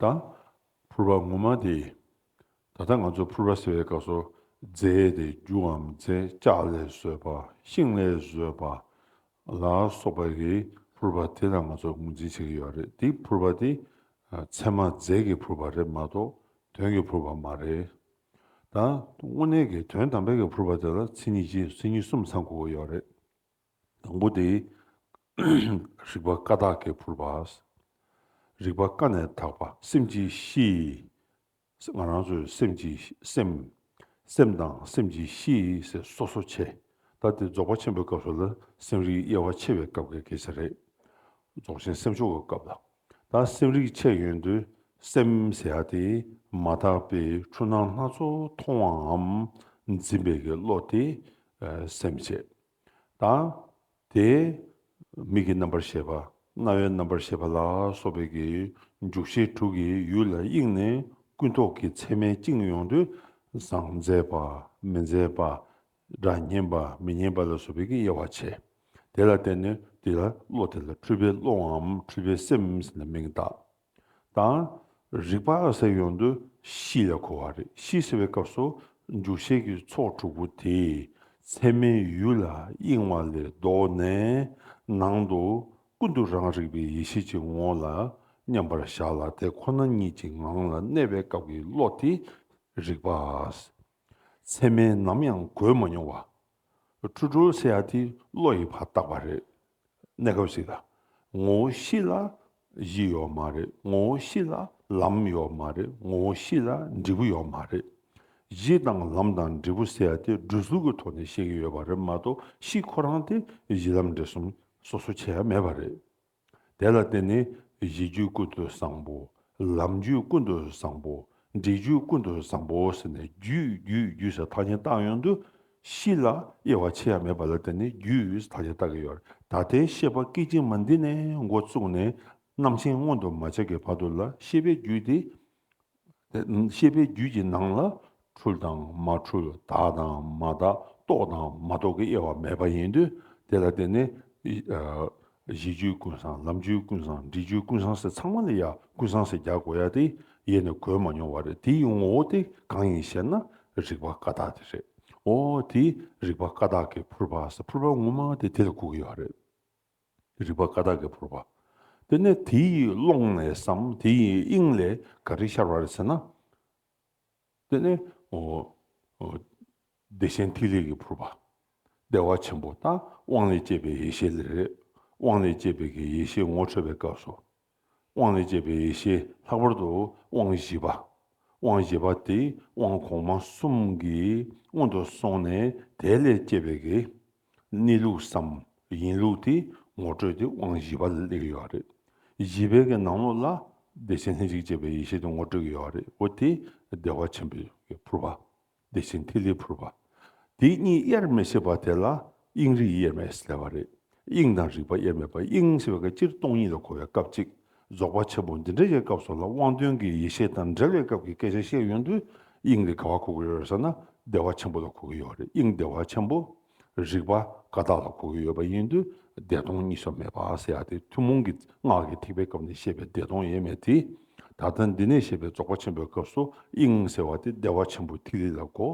དང། ཕུར་པ་ངོ་མ་དེ། ད་ལྟ་ང་ཚོ་ཕུར་པ་ཟེར་བའི་སྐབས་སུ། རྫས་དེ་རྒྱུའམ་རྫས་ལྕགས་ལས་བཟོས་པ་ཤིང་ལས་བཟོས་པ། ལ་སོགས་པ་རེད་ཕུར་པ་དེ་ལ་ང་ཚོ་ངོས་འཛིན་བྱེད་ཀྱི་ཡོད་རེད་དེ་ཕུར་པ་དེ། ཚད་མ་རྫས་ཀྱི་ཕུར་པ་རེད་མ་གཏོགས་དོན་གྱི་ཕུར་པ་མ་རེད། དང། དངོས་གནས་ཀྱི་དོན་དམ་པའི་ཕུར་པ་དེ་ལ་མཚན་ཉིད་གཅིག་མཚན་ཉིད་གསུམ་ཚང་དགོས་ཀྱི་ཡོད་རེད། དང་པོ་དེ། རིག་པ་ཀ་དག་གིས་ཕུར་པ། རིག་པ་ཀ་ནས་དག་པ་སེམས་ཀྱི་གཤིས། ང་རང་ཚོས་སེམས་ཀྱི་སེམས། སེམས་དང་སེམས་ཀྱི་གཤིས་ཟེར་སོ་སོ་ཆེ། ད་དེ་རྫོགས་པ་ཆེན་པོའི་སྐབས་སུ་ལ་སེམས་རིག་དབྱེ་བ་ཕྱེ་བའི་སྐབས་ཀྱི་གེགས་ཆ་རེད། རྫོགས་ཆེན་སེམས་ཕྱོགས་ཀྱི་སྐབས་ལ། ད་སེམས་རིག་ཕྱེ་ཡོན་དུ་སེམས་ཟེར་ཡ་དེ། མ་དག་པའི་འཁྲུལ་སྣང་སྣ་ཚོགས་མཐོང་བའམ། འཛིན་པའི་གི་བློ་དེ། སེམས་བྱེད། དང། དེ། མིག་གི་རྣམ་པར་ཤེས་པ། རྣ་བའི་རྣམ་པར་ཤེས་པ་ལ་སོགས་པའི་གི་འཇུག་ཤེས་དྲུག་གིས་ཡུལ་ལ་དབྱིངས་ནས་ཀུན་རྟོག་གི་མཚན་མའི་དབྱིངས་ཡོངས་འདུ་བཟང་མཛེས་པ་མི་མཛེས་པ། སྒྲ་སྙན་པ་མི་སྙན་པ་ལ་སོགས་པའི་གི་དབྱེ་བ་ཕྱེ། དེ་ལ་བརྟེན་ནས་དེ་ལ་བློ་དེ་ལ་འཁྲུལ་པའི་བློའམ་འཁྲུལ་པའི་སེམས་ལ་མིང་བཏགས། དང། རིག་པ་ཨ་གསལ་ཡོང་དུས་གཤིས་ལས་གོ་བ་རེད་གཤིས་ཟེར་བའི་སྐབས་སུ་འཇུག་ཤེས་ཀྱི་ཚོགས་དྲུག་པོ་དེས་ཚད་མའི་ཡུལ་ལ་གཡེང་བ་ལས་ལྡོག་ནས་ནང་དུ་ཀུན་ཏུ་རང་རིག་པའི་ཡེ་ཤེས་ཀྱི་ངོ་ལ་མཉམ་པར་བཞག་ལ་དེ་ཁོ་ན་ཉིད་ཀྱི་ངང་ལ་གནས་པའི་སྐབས་ཀྱི་བློ་དེ་རིག་པ་ཨ་ཚད་མས་ནམ་ཡང་གོས་མ་མྱོང་བ། ཁྲོ་ཁྲོ་སེ་ཡ་དེ་བློ་ཡི་བར་བཏགས་པ་རེད། གནས་སྐབས་ཤིག་ལ། ངོ་བོ་གཤིས་ལ་གཞི་ཡོད་མ་རེད་ངོ་བོ་གཤིས་ལ་ལམ་ཡོད་མ་རེད་ངོ་བོ་གཤིས་ལ་འབྲས་བུ་ཡོད་མ་རེད། གཞི་དང་ལམ་དང་འབྲས་བུ་ཟེར་བ་དེ་འགྲོས་ཚུལ་གྱི་ཐོག་ནས་བཤད་ཀྱི་ཡོད་པ་རེད་མ་གཏོགས་གཤིས་ཁོ་རང་དེ་གཞི་ལམ་འབྲས་གསུམ་སོ་སོ་ཆེ་ཡ་མེད་པ་རེད། དེ་ལ་བརྟེན་ནས་གཞི་རྒྱུད་ཀུན་ཏུ་བཟང་པོ། ལམ་རྒྱུད་ཀུན་ཏུ་བཟང་པོ། འབྲས་རྒྱུད་ཀུན་ཏུ་བཟང་པོ་ཟེར་ནས་རྒྱུད་རྒྱུད་རྒྱུད་ཟེར་ཐག་ཆེན་བཏགས་ཡོང་དུས། གཞི་ལ་དབྱེ་བ་ཕྱེ་ཡ་མེད་པ་ལ་བརྟེན་ནས་རྒྱུད་ཐག་ཆེན་བཏགས་ཀྱི་ཡོད། ད་ལྟའི་བཤད་པ་སྐད་ཅིག་མ་འདི་ནས་མགོ་བཙུགས་ནས་རྣམ་མཁྱེན་མངོན་དུ་མ་བྱས་ཀྱི་བར་དུ་ལ་ཤེས་པའི་རྒྱུད་དེ། ཤེས་པའི་རྒྱུད་ཀྱི་ནང་ལ་འཁྲུལ་དང་མ་འཁྲུལ་དག་དང་མ་དག་རྟོག་དང་མ་རྟོག་གི་དབྱེ་བ་མེད་པ་ཡིན་དུས་དེ་ལ་བརྟེན་ནས། གཞི་བཅུའི་ཀུན་བཟང་ལམ་བཅུའི་ཀུན་བཟང་འབྲས་བཅུའི་ཀུན་བཟང་ཟེར་ཚང་མ་ལ་ཡང་ཀུན་བཟང་ཟེར་རྒྱག་དགོས་ཡ་དེ་ཡེ་ནས་གོ་མ་མྱོང་བ་རེད་དེ་ཡི་ངོ་བོ་དེ་གང་ཡིན་ཞེ་ན་རིག་པ་ཀ་དག་དེ་རེད། འོ་དེ་རིག་པ་ཀ་དག་གི་ཕུར་པ་ཟེར་ཕུར་པ་ངོ་མ་དེ་དེ་ལ་གོ་གི་ཡོད་རེད། རིག་པ་ཀ་དག་གིས་བོར་བ། དེ་ནས་དེ་ཡི་ཀློང་ནས་སམ་དེ་ཡི་དབྱིངས་ལས་ག་རེ་ཤར་བ་རེད་ཟེར་ན། དེ་ནི་བདེ་ཆེན་ཐིག་ལེ་ཀྱིས་བོར་བ། བདེ་བ་ཆེན་པོ་དང་དབང་ལས་སྐྱེས་པའི་ཡེ་ཤེས་ལས་རེད། དབང་ལས་སྐྱེས་པའི་གི་ཡེ་ཤེས་ངོ་འཕྲོད་པའི་སྐབས་སུ། དབང་ལས་སྐྱེས་པའི་ཡེ་ཤེས་ལྷག་པར་དུ་དབང་བཞི་པ། དབང་བཞི་པ་དེ་དབང་གོང་མ་གསུམ་གྱི་སྔོན་དུ་སོང་ནས་དེ་ལས་སྐྱེས་པའི་གེགས། གནས་ལུགས་སམ་ཡིན་ལུགས་དེ་ངོ་སྤྲོད་དེ་དབང་བཞི་པ་ལ་སླེབས་ཀྱི་ཡོད་རེད། བཞི་པའི་གེགས་ནང་ལོགས་ལ་བདེ་ཆེན་ལྷན་ཅིག་སྐྱེས་པའི་ཡེ་ཤེས་དེ་ངོ་སྤྲོད་ཀྱི་ཡོད་རེད་འོ་དེ་བདེ་བ་ཆེན་པོའི་ཕུར་པ། དེ་བཞིན་ཐིག་ལེ་ཕུར་པ། དེ་གཉིས་དབྱེར་མི་ཕྱེད་པ་དེ་ལ་དབྱིངས་རིག་དབྱེར་མེད་ཟེར་བ་རེད། དབྱིངས་དང་རིག་པ་དབྱེར་མེད་པ་དབྱིངས་ཟེར་བ་ཀྱི་སྤྱིར་སྟོང་ཉིད་ལ་གོ་བའི་སྐབས་ཅིག་རྫོགས་པ་ཆེན་པོ་འདི་འདྲ་ཡི་སྐབས་སོགས་ལ་དབང་དོན་གྱི་ཡེ་ཤེས་དང་འབྲེལ་བའི་སྐབས་ཀྱི་སྐད་ཆ་བཤད་ཡོང་དུས་དབྱིངས་ལས་ག་བ་གོ་གི་ཡོད་རེད་ཟེར་ན་བདེ་བ་ཆེན་པོ་ལ་གོ་གི་ཡོད་རེད་དབྱིངས་བདེ་བ་ཆེན་པོ་རིག་པ་ཀ་དག་ལ་གོ་གི་ཡོད་པ་ཡིན་དུས་བདེ་སྟོང་གཉིས་སུ་མེད་པ་ཟེར་ཡ་དེ་ཐུན་མོང་གི་སྔགས་ཀྱི་ཐེག་པའི་སྐབས་ནས་བཤད་པའི་བདེ་སྟོང་ཡེ་མེད་དེ། ད་ལྟ་འདི་ནས་བཤད་པའི་རྫོགས་པ་ཆེན་པོའི་སྐབས་སུ་དབྱིངས་ཟེར་བ་དེ་བདེ་བ་ཆེན་པོའི་ཐིག་ལེ་ལ་གོ།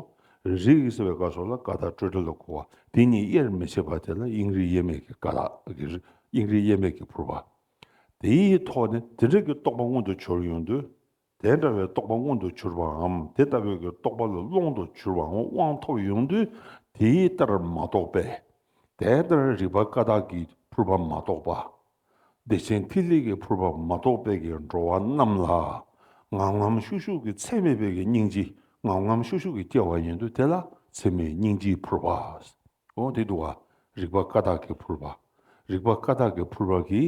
རིག་ཟེར་བའི་སྐབས་སོགས་ལ་ཀ་དག་སྤྲོས་བྲལ་ལ་གོ་བ་དེ་གཉིས་དབྱེར་མི་ཕྱེད་པ་དེ་ལ་དབྱིངས་རིག་དབྱེར་མེད་ཀྱི་ཀ་དག་གི་རིག་དབྱིངས་རིག་དབྱེར་མེད་ཀྱི་ཕུར་པ། དེའི་ཐོག་ནས་དེ་འབྲེལ་གྱི་རྟོགས་པ་མངོན་དུ་གྱུར་ཡོང་དུས། དེ་འདྲ་བའི་རྟོག་པ་མངོན་དུ་གྱུར་པའམ་དེ་ལྟ་བུའི་རྟོག་པ་ལ་སློང་དུ་གྱུར་པའང་དབང་ཐོབ་ཡོང་དུས་དེའི་ལྟར་མ་རྟོགས་པས། དེ་ལྟར་རིགས་པ་ཀ་དག་གིས་ཕུར་པ་མ་རྟོགས་པ། བདེ་ཆེན་ཐིག་ལེ་ཀྱི་ཕུར་པ་མ་རྟོགས་པས་ཀྱི་འགྲོ་བ་རྣམས་ལ། ངམ་ངམ་ཤུག་ཤུག་གི་ཚད་མེད་པས་ཀྱི་སྙིང་རྗེ་ངམ་ངམ་ཤུག་ཤུག་གིས་སྐྱེ་བ་ཡིན་དུས་དེ་ལ་ཚད་མེད་སྙིང་རྗེའི་ཕུར་པ། འོ་དེ་དུ་བ། རིག་པ་ཀ་དག་གི་ཕུར་པ། རིག་པ་ཀ་དག་གི་ཕུར་པ་གི།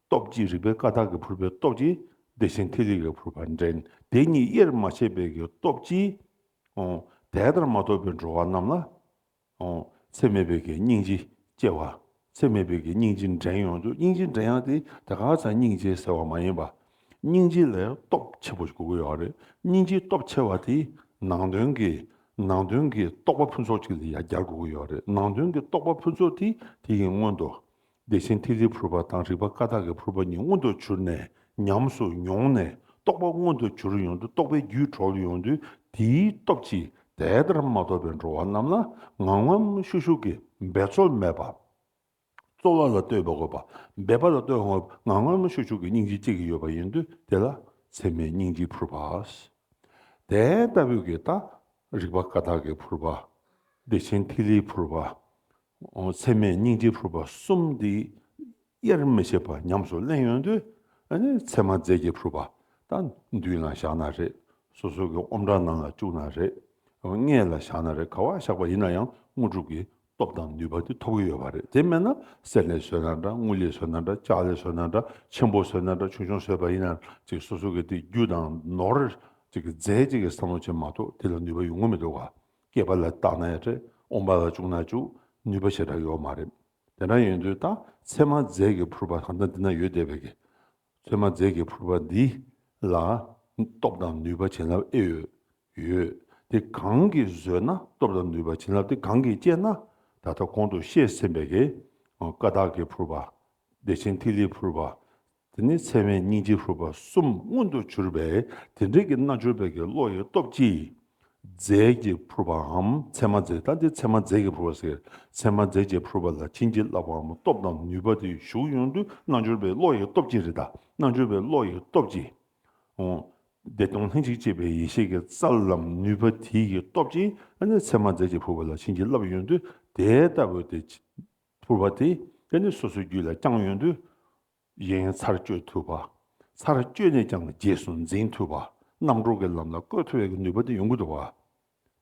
སྟོབས་ཀྱིས་རིག་པའི་ཀ་དག་གི་ཕུར་པའི་སྟོབས་ཀྱིས་བདེ་ཆེན་ཐིག་ལེ་གི་ཕུར་པ་འདྲེན་དེ་ཉིད་དབྱེར་མ་ཕྱེད་པའི་གི་སྟོབས་ཀྱིས། འོ། དེ་ལྟར་མ་ཐོབ་པའི་འགྲོ་བ་རྣམས་ལ། འོ། ཚད་མེད་པའི་གི་སྙིང་རྗེ་སྐྱེ་བ། ཚད་མེད་པའི་གི་སྙིང་རྗེ་འདྲེན་ཡོང་དུས་སྙིང་རྗེ་འདྲེན་ཡང་དེ་དགག་བྱ་སྙིང་རྗེ་ཟེར་བ་མ་ཡིན་པ། སྙིང་རྗེ་ལས་སྟོབས་ཆེ་པོ་ཞིག་དགོས་ཀྱི་རེད། སྙིང་རྗེའི་སྟོབས་ཆེ་བ་དེས་ནང་དོན་གྱི། ནང་དོན་གྱི་རྟོགས་པ་ཕུན་ཚོགས་ཅིག་ལ་ཡང་སྦྱར་དགོས་ཀྱི་ཡོད་རེད། ནང་དོན་གྱི་རྟོགས་པ་ཕུན་ཚོགས་དེ་དེ་ཡི་སྔོན་དུ། བདེ་ཆེན་ཐིག་ལེའི་ཕུར་པ་དང་རིག་པ་ཀ་དག་གི་ཕུར་པ་གཉིས་མངོན་དུ་གྱུར་ནས་ཉམས་སུ་མྱོང་ནས་རྟོགས་པ་མངོན་དུ་གྱུར་ཡོང་དུས་རྟོགས་པའི་རྒྱུད་གྲོགས་ལ་ཡོང་དུས་དེའི་སྟོབས་ཀྱིས་དེ་ལྟར་མ་རྟོགས་པའི་འགྲོ་བ་རྣམས་ལ་ངང་ངམ་ཤུགས་ཤུགས་ཀྱིས་འབད་རྩོལ་མེད་པར། རྩོལ་བ་ལ་ལྟོས་པའི་དགོས་པ་འབད་པ་ལ་ལྟོས་ངང་སྔར་མ་ཤུགས་ཆུ་གི་སྙིང་རྗེ་གཅིག་གིས་ཡོད་པ་ཡིན་དུས་དེ་ལ་ཚད་མའི་སྙིང་རྗེའི་ཕུར་པ། དེ་ལྟ་བུའི་གེ་ལྟ་རིག་པ་ཀ་དག་གི་ཕུར་པ། བདེ་ཆེན་ཐིག་ལེའི་ཕུར་པ། ཚད་མའི་སྙིང་རྗེའི་ཕུར་པ་གསུམ་འདི་དབྱེར་མི་ཕྱེད་པར་ཉམས་སུ་གླན་ཡོང་དུས་ཚད་མ་རྫས་ཀྱི་ཕུར་པ་དང་མདུན་ལ་བཞག་ན་རེད་སོ་སོ་གི་ཨོམ་བྲག་ནང་ལ་བཅུག་ན་རེད་སྔས་ལ་བཞག་ན་རེད་ག་བ་བཞག་པ་ཡིན་ན་ཡང་དངོས་གྲུབ་ཀྱི་སྟོབས་དང་ནུས་པ་དེ་ཐོབ་ཀྱི་ཡོད་པ་རེད་དེ་མེད་ན་གསེར་ལས་བཟོས་ན་འདྲ་དངུལ་ལས་བཟོས་ན་འདྲ་ལྕགས་ལས་བཟོས་ན་འདྲ་ཆེན་པོ་བཟོས་ན་འདྲ་ཆུང་ཆུང་བཟོས་པ་ཡིན་ན་ཅིག་སོ་སོ་གི་དེ་རྒྱུ་དང་ནོར། རྫས་གཅིག་གི་བསམ་བློ་བྱེད་མ་གཏོགས་དེ་ལ་ནུས་པ་ཡོང་གི་མི་འདུག་ག་སྐྱེས་པ་ལ་བཏགས་ན་ཡང་རེད་འོངས་པ་ལ་བཅུག་ན་བཅུག་ནུས་པ་ཆེ་དྲགས་ཡོད་མ་རེད་དེ་འདྲ་ཡོད་དུས་ད་ཚེ་མ་རྫས་ཀྱི་ཕུར་པ་གང་འདྲ་འདི་ན་ཡོད་བསྡད་པའི་གི་ཚོད་མ་མཛད་ཀྱི་ཕུར་པ་འདི་ལ། སྟོབས་དང་ནུས་པ་བྱིན་རླབས་ཨེ་ཡོད། ཡོད་དེ་གང་གིས་བཟོས་ན་སྟོབས་དང་ནུས་པ་བྱིན་རླབས་དེ་གང་གིས་བསྐྱེད་ན། ད་ལྟ་གོང་དུ་བཤད་ཟིན་པའི་ཀ་དག་གི་ཕུར་པ། བདེ་ཆེན་ཐིག་ལེའི་ཕུར་པ། དེ་ནས་ཚད་མའི་སྙིང་རྗེའི་ཕུར་པ་གསུམ་མངོན་དུ་གྱུར་པས་དེ་འབྲེལ་གྱི་རྣལ་འབྱོར་པའི་ཀྱི་བློ་ཡི་སྟོབས་ཀྱིས། རྫས་ཀྱིས་ཕུར་པའམ་མཚན་མ་རྫས་ལྟ་འདི་མཚན་མ་རྫས་ཀྱིས་ཕུར་བ་ཟེར། མཚན་མ་རྫས་ཀྱིས་ཕུར་པ་ལ་བྱིན་གྱིས་བརླབ་པའམ་སྟོབས་དང་ནུས་པ་དེ་ཞུགས་ཡོང་དུས་རྣལ་འབྱོར་པའི་བློ་ཡི་སྟོབས་ཀྱིས་རེད་ད། རྣལ་འབྱོར་པའི་བློ་ཡི་སྟོབས་ཀྱིས། བདེ་སྟོང་ལྷན་ཅིག་སྐྱེས་པའི་ཡེ་ཤེས་ཀྱི་རྩལ་ལམ་ནུས་པ་དེ་ཡི་སྟོབས་ཀྱིས་ནི་མཚན་མ་རྫས་ཀྱིས་ཕུར་བ་ལ་བྱིན་གྱིས་བརླབས་ཡོང་དུས་དེ་ལྟ་བུ་དེ། ཕུར་བ་དེ་ནི་སོ་སོའི་རྒྱུད་ལ་བསྐྱངས་ཡོང་དུས། གཞན་ཚར་གཅོད་ཐུབ་པ། ཚར་གཅོད་ནས་ཀྱང་རྗེས་སུ་འཛིན་ཐུབ་པ། རྣམ་གྲོལ་གྱི་ལམ་ལ་བཀོད་ཐུབ་པའི་ནུས་པ་དེ་ཡོང་གི་འདུག་བ།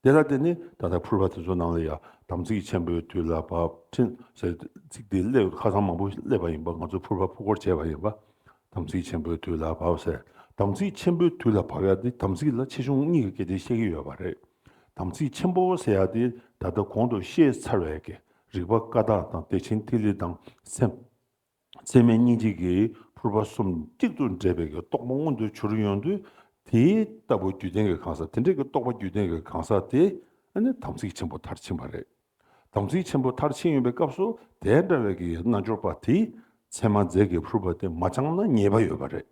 དེ་ལ་བརྟེན་ནས་ད་ལྟ་ཕུར་པ་དེ་ཚོའི་ནང་ལ་ཡང་དམ་ཚིག་ཆེན་པོའི་དུས་ལ་བབས་ཕྲིན་ལས་ཚིག་དེ་གླེགས་བམ་ཁ་སང་མང་པོ་གླེགས་པ་ཡིན་པ་ང་ཚོས་ཕུར་པ་ཕུར་སྐོར་བྱས་པ་ཡིན་པ། དམ་ཚིག་ཆེན་པོའི་དུས་ལ་བབས་ཟེར། དམ་ཚིག་ཆེན་པོའི་དུས་ལ་བབས་ཡག་དེ་དམ་ཚིག་ལ་ཆེ་ཆུང་གཉིས་ཀྱི་སྐད་དེ་བཤད་ཀྱི་ཡོད་པ་རེད། དམ་ཚིག་ཆེན་པོ་ཟེར་ཡག་དེ་ད་ལྟ་གོང་དུ་བཤད་ཚར་བའི་རིག་པ་ཀ་དག་དང་བདེ་ཆེན་ཐིག་ལེ་དང་སེམས། མཚན་མའི་སྙིང་ཐིག་གི་ཕུར་པ་གསུམ་གཅིག་ཏུ་འདྲེས་པའི་རྟོག་པ་མངོན་དུ་འཕྱུར་ཡོང་དུས་དེ་ལྟ་བུ་རྒྱུད་ལྡན་གྱི་གང་ཟག་དེ་འདྲ་གི་རྟོག་པ་རྒྱུད་ལྡན་གྱི་གང་ཟག་དེ་ནི་དམ་ཚིག་ཆེན་པོ་མཐར་ཕྱིན་པ་རེད། དམ་ཚིག་ཆེན་པོ་མཐར་ཕྱིན་ཡོང་པའི་སྐབས་སུ་དེ་འདྲ་བའི་གི་རྣལ་འབྱོར་པ་དེས་མཚན་མ་རྫས་ཀྱི་ཕུར་པ་དེ་མ་སྦྱངས་ན་ཉེས་པ་ཡོད་པ་རེད།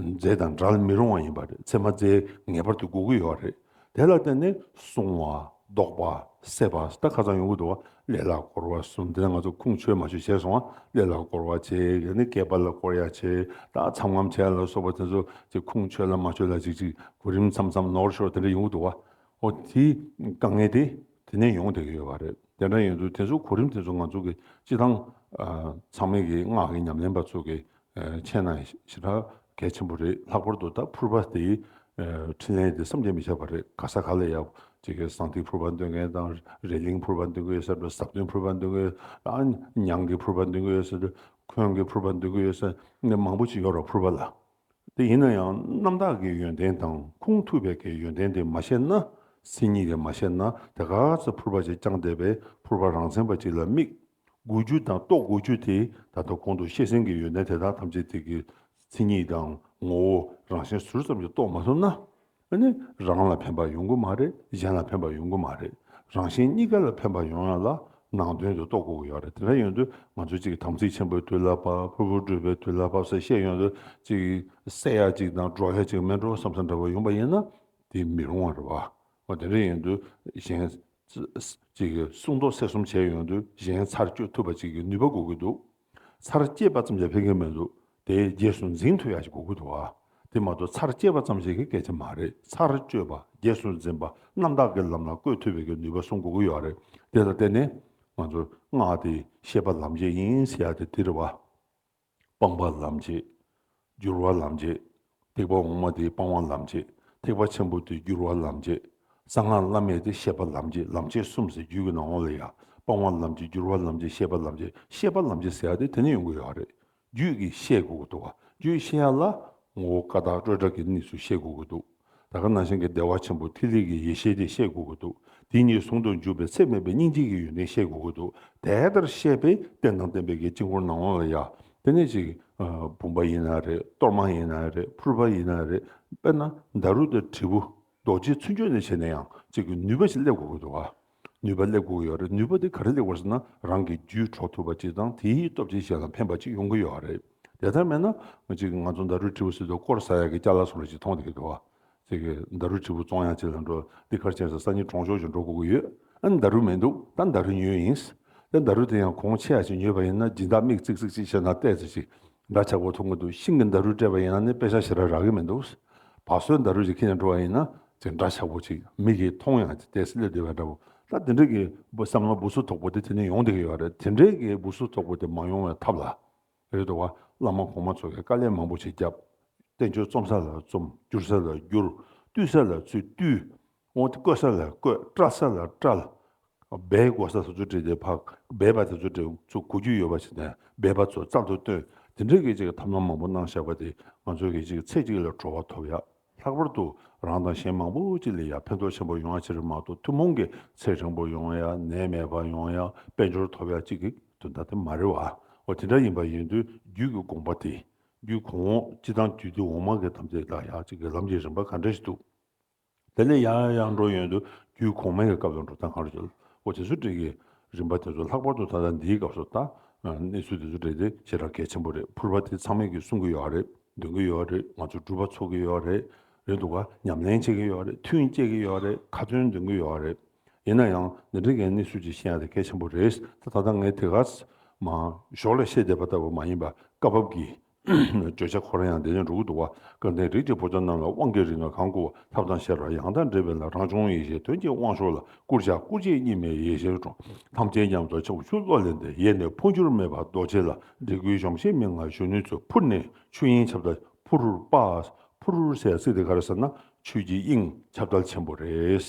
རྫས་དང་འདྲ་ལ་མི་རུང་བ་ཡིན་པ་རེད། ཚེར་མ་རྫས་ངེས་པར་དུ་དགོས་ཀྱི་ཡོད་རེད། དེ་ལ་བརྟེན་ནས་སྲུང་བ། བཟློག་པ། བསད་པ་སོགས་ཁ་ཚང་ཡོང་གི་འདུག་བ་ཀླད་ལ་བསྐོར་བ་གསུམ་དེ་ང་ཚོ་ཁུངས་ཆོད་མ་ཆོད་བྱས་སོང་བ་ཀླད་ལ་བསྐོར་བ་བྱས་གལ་ནི་སྐེད་པ་ལ་བསྐོར་ཡ་བྱས་ད་ཚམ་ངམ་བྱས་ལ་སོགས་པ་དེ་ཚོ་དེ་ཁུངས་ཆོད་ལ་མ་ཆོད་ལ་ཅིག་ཅིག་གོ་རིམ་མཚམས་མཚམས་ནོར་ཤོར་དེ་འདྲ་ཡོང་གི་འདུག་བ་ཨོ་དེ་དཀའ་ངལ་དེ་དེ་ནས་ཡོང་བསྡད་ཀྱི་ཡོད་བ་རེད་དེ་འདྲ་ཡིན་དུས་དེ་ཚོ་གོ་རིམ་དེ་ཚོ་ང་ཚོ་གི་སྤྱི་ཐང་ཚང་མིག་གི་སྔགས་ཀྱི་ཉམས་ལེན་པ་ཚོ་གི་མཆན། ན་ཞེ་ད་གས་ཆེན་པོ་རེད་ལྷག་པར་དུ་ད་ཕུར་པ་དེ་འཕྲིན་ལན་དེ་བསམ་གྱིས་མི་ཁྱབ་པ་རེད་ག་ས་ག་ལ་ཡག་ཇི་དགའི་ཟངས་ཐིག་ཕུར་པ་འདོན་མཁན་དང་རེ་གླིང་ཕུར་པ་འདོན་གི་ཡོད་ས་དྲོ་ཟབ་དོན་ཕུར་པ་འདོན་གི་ཡོད་ས་ཨ་ཉང་གི་ཕུར་པ་འདོན་གི་ཡོད་ས་ཁོན་གི་ཕུར་པ་འདོན་གི་ཡོད་ས་ནས་མང་པོ་ཅིག་ཡོད་རོགས་ཕུར་པ་ལ་དེ་ཡིན་ན་ཡང་རྣམ་དག་གི་ཡོན་ཏན་དང་ཁུངས་ཐུབ་པའི་གའི་ཡོན་ཏན་དེ་མ་ཤེས་ན་སེམས་ཉིད་དེ་མ་ཤེས་ན་དེ་ག་ཚོད་ཕུར་པ་ཅིག་བསྐྱངས་བསྡད་པས་ཕུར་པ་རང་མཚན་པ་ཅིག་ལ་དམིགས། དགོས་རྒྱུ་དང་རྟོགས་དགོས་རྒྱུ་དེ་ད་ལྟ་གོང་དུ་བཤད་ཟིན་གྱི་ཡོད་ན་དེ་དག་ཐམས་ཅད་དེ་གི་མཚན་ཉིད་དང་ངོ་བོ་རང་བཞིན་ཟུར་ཙམ་གྱིས་རྟོགས་མ་ཐུབ་ན། ནི་རང་ལ་ཕན་པ་ཡོང་གི་མ་རེད་གཞན་ལ་ཕན་པ་ཡོང་གི་མ་རེད་རང་གཞན་གཉིས་ཀ་ལ་ཕན་པ་ཡོང་ཡང་ལ་ནང་དོན་དེ་རྟོགས་དགོས་ཀྱི་ཡོད་རེད་དེ་འདྲ་ཡོང་དུས་ང་ཚོ་ཅིག་དམ་ཚིག་ཆེན་པོའི་དུས་ལ་བབ་ཕུར་བུ་བགྲོད་པའི་དུས་ལ་བབ་ས་ཤེས་ཡོང་དུས་ཅིག་བསད་ཡག་ཅིག་དང་སྒྲོག་ཡག་ཅིག་མེད་འགྲོ་བསམ་ས་འདྲ་བ་ཡོང་པ་ཡིན་ན་དེ་མི་རུང་བ་རེད་བ། འོ་དེ་འདྲ་ཡོང་དུས་གཞན་ཅིག་གི་སྲུང་བཟློག་སེར་གསུམ་བྱས་ཡོང་དུས་གཞན་ཚར་གཅོད་ཐུབ་པ་ཅིག་གི་ནུས་པ་དགོས་ཀྱི་འདུག་ཚར་སྐྱེས་པ་ཙམ་ཞིག་ཕན་གྱི་མི་འདུག་དེའི་རྗེས་སུ་འཛིན་མཐུ་ཡག་ཞིག་དགོས་ཀྱི་འདུག་ཨ། དེ་མ་གཏོགས་ཚར་སྐྱེས་པ་ཙམ་ཞིག་གི་སྐད་ཆ་མ་རེད་ཚར་གཅོད་པ་རྗེས་སུ་འཛིན་པ་རྣམ་དག་གི་ལམ་ལ་བཀོད་ཐུབ་པའི་གི་ནུས་པ་སྲུང་དགོས་ཀྱི་ཡོད་རེད་དེ་ལ་བརྟེན་ནས་ང་ཚོས་སྔགས་དེ་ཤེས་པ་ལམ་འབྱེད་ཡིན་ཟེར་ཡག་དེ་དེ་རེད་བ། སྤངས་པ་ལམ་བྱེད། སྒྱུར་བ་ལམ་བྱེད། ཐེག་པ་འོག་མ་དེ་སྤང་བ་ལམ་བྱེད། ཐེག་པ་ཆེན་པོ་དེ་སྒྱུར་བ་ལམ་བྱེད། གསང་སྔགས་བླ་མེད་དེ་ཤེས་པ་ལམ་བྱེད་ལམ་བྱེད་གསུམ་ཟེར་རྒྱུད་ཀྱི་ནང་འོག་ལ་ཡང་སྤང་བ་ལམ་བྱེད་སྒྱུར་བ་ལམ་བྱེད་ཤེས་པ་ལམ་བྱེད་ཤེས་པ་ལམ་བྱེད་ཟེར་ཡ་དེ་དེ་ནས་ཡོང་གི་ཡོད་རེད། རྒྱུད་ཀྱི་བཤད་དགོས་ཀྱི་འདུག་བ་རྒྱུད་བཤད་ཡ་ལ། ངོ་བོ་ཀ་དག་སྤྲོས་བྲལ་གྱི་གནས་སུ་བཤད་དགོས་ཀྱི་འདུག། ད་ག་ན་གཞན་གྱི་བདེ་བ་ཆེན་པོ་ཐིག་ལེ་གྱི་ཡེ་ཤེས་དེ་ཤེས་དགོས་ཀྱི་འདུག་དེ་གཉིས་ཟུང་དུ་འཇུག་པའི་ཚེ་མེད་པའི་སྙིང་རྗེ་ཡི་ཡོན་ཏན་ཤེས་དགོས་ཀྱི་འདུག་དེ་ལྟར་ཤེས་པས་རྟེན་དང་བརྟེན་པའི་གྱི་དཀྱིལ་འཁོར་སྣང་བ་ལ་ཡང་དེ་ནས་ཅིག། བུམ་པ་ཡིན་ན་རེད་གཏོར་མ་ཡིན་ན་རེད་ཕུར་པ་ཡིན་ན་རེད་དཔེར་ན་མདའ་རུ་དང་དྲིལ་བུ་རྡོ་རྗེའི་ཚུལ་འཆོས་ནས་བྱས་ན་ཡང་ཅིག་ནུས་པ་ཞིག་སླེབས་དགོས་ཀྱི་འདུག་ཨ། ནུས་པ་སླེབས་དགོས་ཡོད་རེད་ནུས་པ་དེ་ག་རེ་ལེགས་པར་ཟེར་ན་རང་གི་རྒྱུད་འཕྲོག་ཐུབ་པ་ཅིག་དང་དེའི་སྟོབས་ཀྱིས་གཞན་ལ་ཕན་པ་ཅིག་ཡོང་གི་ཡོད་རེད་དེ་ལྟར་མེད་ན། གཅིག་ང་ཚོ་མདའ་རུས་ཁྲི་བོ་སི་ཏུ་སྐོར་ས་ཡག་གི་སྐྱ་ལ་སོགས་ལ་ཅིག་མཐོང་བསྡད་འདུག་ཨ། མདའ་རུས་ཁྲི་བོ་བཙོང་ཡག་ཅིག་ལ་འགྲོ་འདི་ཁར་ཆེན་ས་ས་གཉིས་གྲོང་ཆོག་ཅིག་འགྲོ་དགོས་ཀྱི་ཡོད་ཨ། མདའ་རུས་མི་འདུག་ད་མདའ་རུས་ཉོས་ཡིན། དེ་མདའ་རུས་དེ་ཡང་གོང་ཆེ་ཡག་ཅིག་ཉོས་པ་ཡིན་ན་སྦྱིན་བདག་མིག་ཙིག་ཙིག་ཅིག་བྱས་ན་བལྟས་ཚེ་ཅིག་འདྲ་ཆགས་པོ་འཐུང་གི་འདུག་ཤིང་གི་འདར་རུས་སྤྲད་པ་ཡིན་ན་ནི་དཔེ་ཆ་ཞེ་དྲག་རག་གི་མི་འདུག་བ་སོའི་འདར་རུས་ཞིག་ཁྱི་ནས་འགྲོ་བ་ཡིན་ན་ཅིག་འདྲ་ཆགས་པོ་ཅིག་མི་གིས་མཐོང་ཡང་ཅིག་དེས་སླེབས་བསྡད་པ་འདྲ་བོ་ད་དེ་འདྲས་ཀྱི་བསམ་བློ་འབུ་སུ་དོག་པོ་དེ་དེ་ནས་ཡོང་བསྡད་ཀྱི་ཡོད་རེད་དེ་འདྲས་ཀྱི་འབུ་སུ་དོག་པོ་དེ་མ་ཡོང་བའི་ཐབས་ལ་རེད་འདུག་བ་བླ་མ་གོང་མ་ཚོ་གིས་དཀའ་ལས་མང་པོ་ཞིག་བརྒྱབ། བསྟན་བཅོས་རྩོམ་ས་ལ་རྩོམ་བསྒྱུར་ས་ལ་བསྒྱུར་བཏུས་ས་ལ་ཚུད་བཏུས། སྔོན་དུ་བསྐོལ་ས་ལ་བསྐོལ་བཀྲལ་ས་ལ་བཀྲལ། སྦས་དགོས་ས་སུ་ཚུར་བྲིས་ཏེ་ཕག་སྦས་པ་དེ་ཚོ་དེ་ཚོ་གོ་རྒྱུ་ཡོད་པ་བྱས་ནས་སྦས་པ་ཚོ་རྩ་མདོར་བཏོན་དེ་འདྲའི་སྐད་ཅིག་གི་ཐབས་ལམ་མང་པོ་གནང་བཞག་པ་དེ་ང་ཚོ་གི་ཅིག་ཚེ་གཅིག་ལ་བྲོ་བ་ཐོབ་ཡག་ལྷག་པར་དུ་རང་དང་གཞན་མང་པོ་ཅིག་ལ་ཡང་ཕན་ཐོག་ཆེན་པོ་ཡོང་ཡག་ཆེ་རེ་མ་གཏོགས་ཐུན་མོང་གི་ཚེ་རིང་པོ་ཡོང་ཡག་ནད་མེད་པ་ཡོང་ཡག་དཔལ་འབྱོར་ཐོབ་ཡག་ཅིག་གི་དོན་དག་དེ་མ་རེད་བ་འོ་དེ་འདྲ་ཡིན་པ་ཡིན་དུས་རྒྱུད་ཀྱི་དགོངས་པ་དེ་རྒྱུད་གོང་འོག་སྤྱི་དང་རྒྱུད་སྡེ་འོག་མ་གི་དམ་ཚིག་དག་ཡག་ཅིག་གི་ལམ་གྱི་རིམ་པ་ག་འདྲ་ཞིག་འདུག། དེ་ལས་ཡང་ཡང་འགྲོ་ཡོང་དུས་རྒྱུད་གོང་མའི་སྐབས་དང་འགྲོ་སྟངས་གང་རུང་བྱེད། ཨོ་དེ་ཚོ་འགྲིག་གི། རིམ་པ་དེ་ཚོ་ལྷག་པར་དུ་ད་ལྟ་འདིའི་སྐབས་སུ་ད། གནས་ཚུལ་དེ་ཚོ་འགྲིག་སྟེ་ཆེས་རག་གལ་ཆེན་པོ་རེད་ཕུར་པ་དེ་ཚང་མས་ཀྱིས་གསུང་གི་ཡོད་རེད་འདོན་གྱི་ཡོད་རེད་ང་ཚོ་སྒྲུབ་པ་ཚོགས་ཀྱི་ཡོད་རེད་རེད་འདུག་ག་ཉམས་ལེན་བྱེད་ཀྱི་ཡོད་རེད་མཐུན་བསྐྱེད་ཀྱི་ཡོད་རེད་ཁ་ཚོན་འདོན་གྱི་ཡོད་རེད། ཡིན་ན་ཡང་འདི་འདྲི་གའི་གནས་ཚུལ་ཅིག་ཤེས་ཡ་དེ་གལ་ཆེན་པོ་རེད་ད་ད་ལྟ་ངས་དེ་ག། མ། ཞོག་ལ་བཤད་བསྡད་པ་ལྟ་བུ་མ་ཡིན་པ་སྐབས་བབ་ཀྱིས་བརྗོད་བྱ་འཁོར་ཡང་བདེ་ཆེན་འགྲོ་ཀུན་འདུ་བ་སྐལ་ལྡན་རིགས་ཀྱི་བུ་ཚ་རྣམས་ལ་དབང་གི་རིགས་ལྔ་གང་བསྐུར་བ་ཐབས་དང་ཤེས་རབ་ཡང་དག་འདྲེས་པའི་ལ་རང་བྱུང་ཡེ་ཤེས་དོན་གྱི་དབང་ཕྱུག་ལ་བསྐུར་བྱ་སྐུ་རྗེས་གཉིས་མེད་ཡེ་ཤེས་འཕྲོ་ཐམས་ཅད་མཉམ་རྫོགས་ཕྱོགས་བཅུ་བློ་ལས་འདས་ཡེ་ནས་འཕོ་འགྱུར་མེད་པ་རྡོ་རྗེ་ལ་འདྲེ་ཀུན་གཞོམ་ཤེས་མེད་ངང་གཞོན་ནུའི་ཚུལ་ཕུར་ནས་ཆོས་དབྱིངས་ཁྱབ་བདལ་ཕུར་རུ་དཔའ། ཕུར་རུ་སའི་སྲིད་དེ་གར་ཟེར་ན་ཆོས་ཀྱི་དབྱིངས་ཁྱབ་བདལ་ཆེན་པོ་རེད།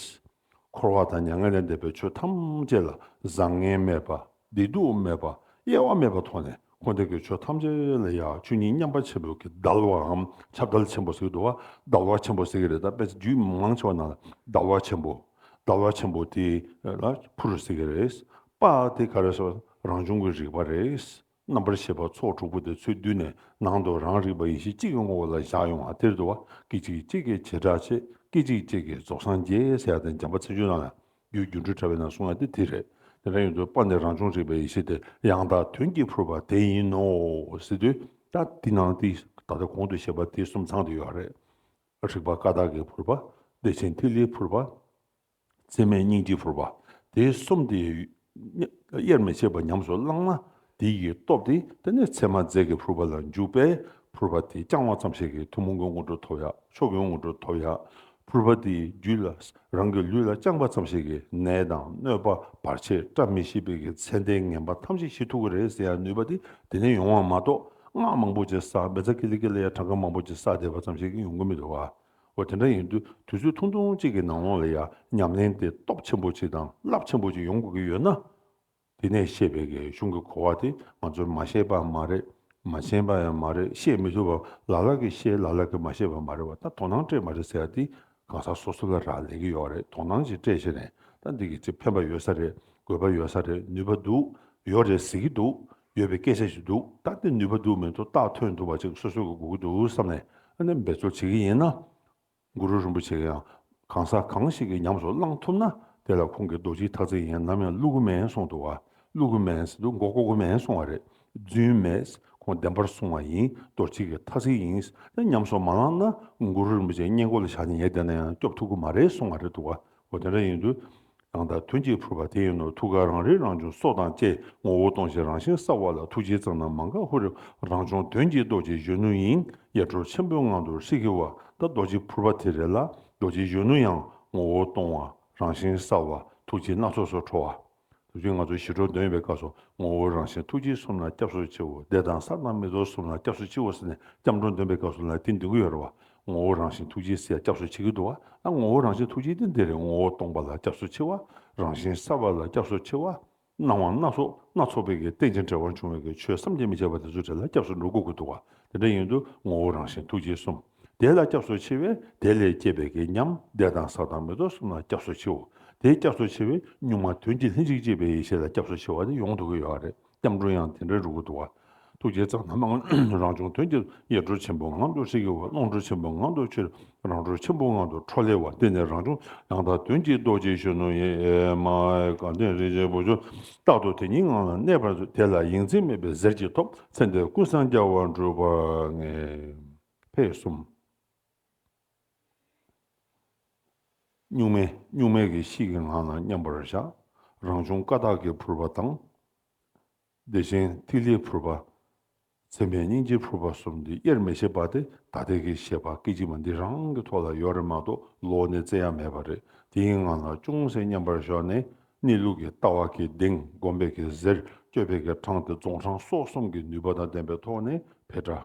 འཁོར་བ་དང་མྱ་ངན་ལས་འདས་པའི་ཆོས་ཐམས་ཅད་ལ་བཟང་ངན་མེད་པ། བདེ་སྡུག་མེད་པ། དབྱེ་བ་མེད་པར་མཐོང་ནས་འཁོར་འདས་ཀྱི་ཆོས་ཐམས་ཅད་ལ་ཡང་ཆོས་ཉིད་མཉམ་པ་ཆེན་པོ་གྱིས་བརྡལ་བའམ་ཁྱབ་བརྡལ་ཆེན་པོ་ཟེར་གྱི་འདུག་བ་བརྡལ་བ་ཆེན་པོ་ཟེར་གྱི་རེད་ད་པས་རྒྱུད་མང་ཆེ་བ་ནང་ལ་བརྡལ་བ་ཆེན་པོ། བརྡལ་བ་ཆེན་པོ་དེ་ལ་ཕུར་ཟེར་གྱི་རེད། པ་དེ་ག་རེ་ཟེར་བ་རང་བྱུང་གི་རིག་པ་རེད། རྣམ་པར་ཤེས་པ་ཚོགས་དྲུག་པོ་དེ་ཚུལ་བསྡུས་ནས་ནང་དུ་རང་རིག་པ་ཡེ་ཤེས་གཅིག་གི་ངོ་བོ་ལ་བཞག་ཡོང་བ་དེར་དུ་བ་སྐད་ཅིག་གཅིག་གི་བྱེ་བྲག་ཕྱེད་སྐད་ཅིག་གཅིག་གིས་རྫོགས་སངས་རྒྱས་ཟེར་ཡ་དང་འཇམ་པ་ཚིག་ཆུང་རྣམས་ལ་རྒྱུའི་སྒྱུ་འཕྲུལ་དྲ་བས་ན་གསུང་ཡ་དེ་དེ་རེད། དེ་འདྲ་ཡིན་དུས་དཔག་ནས་རང་བྱུང་རིག་པའི་ཡེ་ཤེས་དེ་ཡང་དག་དོན་གྱིས་འཕུར་བ་དེ་ཡིན་ནོ་ཟེར་དུས་ད་འདི་ནང་འདི་ད་ལྟ་གོང་དུ་བཤད་པ་འདི་གསུམ་ཚང་དུ་ཡོད་རེད། རིག་པ་ཀ་དག་གིས་འཕུར་བ། བདེ་ཆེན་ཐིག་ལེའི་འཕུར་བ། མཚན་མའི་སྙིང་ཏིག་བོར་བ། དེ་གསུམ་དེ། དབྱེར་མི་ཕྱེད་པར་ཉམས་སུ་བླངས་ན། དེ་ཡི་སྟོབས་ཏེ་དེ་ནས་མཚན་མ་རྫས་ཀྱི་ཕུར་པ་ལ་འཇུག་པས་ཕུར་པ་དེ་བརྐྱང་བ་ཙམ་ཞིག་གིས་ཐུན་མོང་གི་སྔོན་འགྲོ་ཐོབ་ཡ་མཆོག་གི་སྔོན་འགྲོ་ཐོབ་ཡ། ཕུར་པ་དེའི་རྒྱུད་ལ་རང་གི་ལུས་ལ་བརྐྱངས་པ་ཙམ་ཞིག་གིས་ནད་དང་གནོད་པ་བར་ཆད་བཀྲ་མི་ཤིས་པའི་གི་མཚན་ལྡན་ངན་པ་ཐམས་ཅད་ཞི་ཐུག་གི་རེད་ཟེར་ཡ་ནུས་པ་དེ་དེ་ནས་ཡོང་བ་མ་གཏོགས་སྔགས་མང་པོ་ཅིག་བསགས་མེ་བཙའ་ཀི་ལི་ཀི་ལི་ཡ་གྲངས་ཀ་མང་པོ་ཅིག་བསགས་བསྡད་པ་ཙམ་ཞིག་གིས་ཡོང་གི་མི་འདུག་བ། འོ་དེ་འདྲ་ཡིན་དུས་དུས་ཚོད་ཐུང་ཐུང་གཅིག་གི་ནང་ལོགས་ལ་ཡང་ཉམས་ལེན་དེ་སྟོབས་ཆེན་པོ་གཅིག་དང་རླབས་ཆེན་པོ་གཅིག་ཡོང་དགོས་ཀྱི་ཡོད་ན། དེ་ནས་ཤེས་པའི་གས་གཞུང་གི་གོ་བ་དེ་ང་ཚོས་མ་ཤེས་པའང་མ་རེད་མ་མཁྱེན་པ་ཡང་མ་རེད་ཤེས་མི་ཐུབ་པ་ལ་ལ་གིས་ཤེས་ལ་ལ་གིས་མ་ཤེས་པ་མ་རེད་བ་ད་དོ་སྣང་སྤྲད་མ་རེད་ཟེར་བ་འདི་གང་ཟག་སོ་སོ་ལ་རག་ལས་ཀྱི་ཡོད་རེད་དོ་སྣང་ཞིག་སྤྲད་བཞིན་རེད་ད་འདི་གི་ཅིག་ཕན་པ་ཡོད་ས་རེད་དགོས་པ་ཡོད་ས་རེད་ནུས་པ་འདུག་ཡོད་རེད་ཟེར་གྱི་འདུག་ཡོད་པའི་སྐད་ཆ་ཞིག་འདུག་ད་ལྟ་ནུས་པ་འདུག་མི་འདུག་རྟགས་ཐོན་ཐུབ་པ་ཅིག་སོ་སོས་ཀྱི་སྒུག་གི་འདུག་བསམ་ནས་ཨ་ནེ་འབད་རྩོལ་བྱེད་ཀྱི་ཡིན། གུ་རུ་རིན་པོ་ཆེ་ཡང་གང་ཟག་གང་ཞིག་གིས་ཉམས་སུ་བླང་ཐུབ་ན་དེ་ལ་ཁོང་གིས་རྡོ་རྗེའི་ཐག་ཚད་ཡིན་ནམ་ཡང་ཀླུ་གུ་མན་གསུངས་འདུག་ཀླུ་གུ་མན་ཟེར་འདུག་མགོ་ཀོ་ཀོ་མན་གསུངས་བ་རེད་རྫུན་མེད་ཁོང་བདེན་པར་གསུངས་བ་ཡིན་རྡོ་རྗེ་གི་ཐག་ཚད་ཡིན་ཉམས་སུ་མ་བླངས་ན་གུ་རུ་རིན་པོ་ཆེ་སྙན་སྐོར་ལ་བཞག་ནས་ཉལ་བསྡད་ན་ཡང་སྐྱོབ་ཐུབ་ཀྱི་མ་རེད་གསུངས་བ་རེད་འདུག་འོ་དེ་འདྲ་ཡིན་དུས་རང་དང་དོན་གཅིག་འཕྲོད་པ་དེ་ཡིན་ནོ་ཐུགས་ཀར་རང་རིག་རང་བྱུང་སྲོག་དང་བཅས་ངོ་བོ་སྟོང་ཞིང་རང་བཞིན་གསལ་བ་ལ་ཐུགས་རྗེའི་རྩ་རྣམས་མ་འགགས་ཧཱུྃ་རང་བྱུང་དོན་གྱི་རྡོ་རྗེ་གཞོན་ནུ་ཡིན་ཡེ་གྲོལ་ཆེན་པོའི་ངང་དུ་ཧྲིག་གེ་བ་དང་རྡོ་རྗེ་ཕུར་པ་དེ་རེད་ལ་རྡོ་རྗེ་གཞོན་ནུ་ཡང་ངོ་བོ་སྟོང་བ་རང་བཞིན་གསལ་བ་ཐུགས་རྗེ་སྣ་ཚོགས་སུ་འཕྲོ་བ། དེ་བཞིན་ང་ཚོ་ཞི་ཁྲོ་འདོན་པའི་སྐབས་སུ་ངོ་བོ་རང་བཞིན་ཐུགས་རྗེ་གསུམ་ལ་སྐྱབས་སུ་མཆིའོ་བཟླས་དང་གསང་སྔགས་མི་རྟོག་གསུམ་ལ་སྐྱབས་སུ་མཆིའོ་ཟེར་ནས་སྐྱབས་འགྲོ་འདོན་པའི་སྐབས་སུ་ལ་ཏིང་འདི་འགུལ་ཡོད་རེད་བ། ངོ་བོ་རང་བཞིན་ཐུགས་རྗེ་སེ་སྐྱབས་སུ་མཆི་གི་འདུག་བ་ཨ་ངོ་བོ་རང་བཞིན་ཐུགས་རྗེ་ཏིང་འདི་རེད་ངོ་བོ་སྟོང་པ་ལ་སྐྱབས་སུ་མཆི་བ། རང་བཞིན་གསལ་བ་ལ་སྐྱབས་སུ་མཆི་བ། སྣང་བ་སྣ་ཚོགས་སྣ་ཚོགས་པའི་གི་རྟེན་ཅིང་བྲལ་བར་འབྱུང་བའི་གི་ཆོས་བསམ་གྱིས་མི་ཁྱབ་པ་དེ་ཚོ་དེ་ལ་སྐྱབས་སུ་འགྲོ་དགོས་ཀྱི་འདུག་བ་དེ་འདྲ་ཡིན་དུས་ངོ་བོ་རང་བཞིན་ཐུགས་རྗེ་གསུམ། དེ་ལ་སྐྱབས་སུ་མཆི་བས་དེ་ལས་སྐྱེས་པའི་གད་སྙམ་བདེ་དང་བཟའ་དང་མེ་ཏོག་གསུམ་ལ་སྐྱབས་སུ་མཆིའོ། དེ་སྐྱབས་སུ་མཆི་བས་གཉུག་མ་དོན་གྱི་ལྷན་ཅིག་སྐྱེས་པའི་ཡེ་ཤེས་ལ་སྐྱབས་སུ་མཆི་བ་དེ་ཡོངས་འདུ་གི་ཡོ་བ་རེད་སྐྱབས་འགྲོ་ཡང་དེ་འདྲའི་རུ་གུ་འདུ་བ། ཐུགས་རྗེ་གཙང་མ་ངང་རང་བྱུང་དོན་གྱི་ཡེ་གྲོལ་ཆེན་པོའི་ངང་དུ་ཧྲིག་གེ་བ་ཀློང་གྲོལ་ཆེན་པོའི་ངང་དུ་ཆོས་རང་གྲོལ་ཆེན་པོའི་ངང་དུ་འཕྲོ་ལེ་བ་འདི་ནི་རང་བྱུང་ཡང་དག་དོན་གྱི་རྡོ་རྗེ་གཞོན་ནུ་ཡེ་མ་ཧའི་དགའ་ལྡན་རིན་ཆེན་པོ་ཆོས་རྟག་ཏུ་དེ་ཉིད་ངང་ལ་གནས་པར་མཛོད་དེ་ལ་ཡིད་འཛིན་མེད་པའི་གཟེར་གྱིས་ཐོབ་ཚེ་འདིར་ཀུན་སངས་རྒྱ་བར་འགྲོ་བར་ངེས། བྷེ། གསུམ། གཉུག་མའི་གཉུག་མའི་གྱི་གཤིས་ཀྱི་ངང་ལ་མཉམ་པར་བཞག། རང་བྱུང་ཀ་དག་གི་ཕུར་པ་དང། བདེ་ཆེན་ཐིག་ལེའི་ཕུར་པ། མཚན་མའི་སྙིང་རྗེའི་ཕུར་པ་གསུམ་འདི་དབྱེར་མི་ཕྱེད་པ་སྟེ་ད་ལྟའི་གི་ཞེས་པ་སྐད་ཅིག་མ་འདི་རང་གི་ཐོག་ལ་ཡོད་རེད་མ་གཏོགས་ལོགས་ནས་བཙལ་ཡ་མེད་པ་རེད་དེའི་ངང་ལ་ཅུང་ཟད་མཉམ་པར་ཞོག་ནས་གནས་ལུགས་ཀྱི་ལྟ་བ་གྱི་གདེང་བསྒོམ་པའི་གི་གཟེར་གཅོད་པའི་གི་འཕྲང་དེ་རྫོང་འཕྲང་སོགས་གསུམ་གྱི་ནུས་པ་དང་ལྡན་པའི་ཐོག་ནས་བྷེ། དྲག།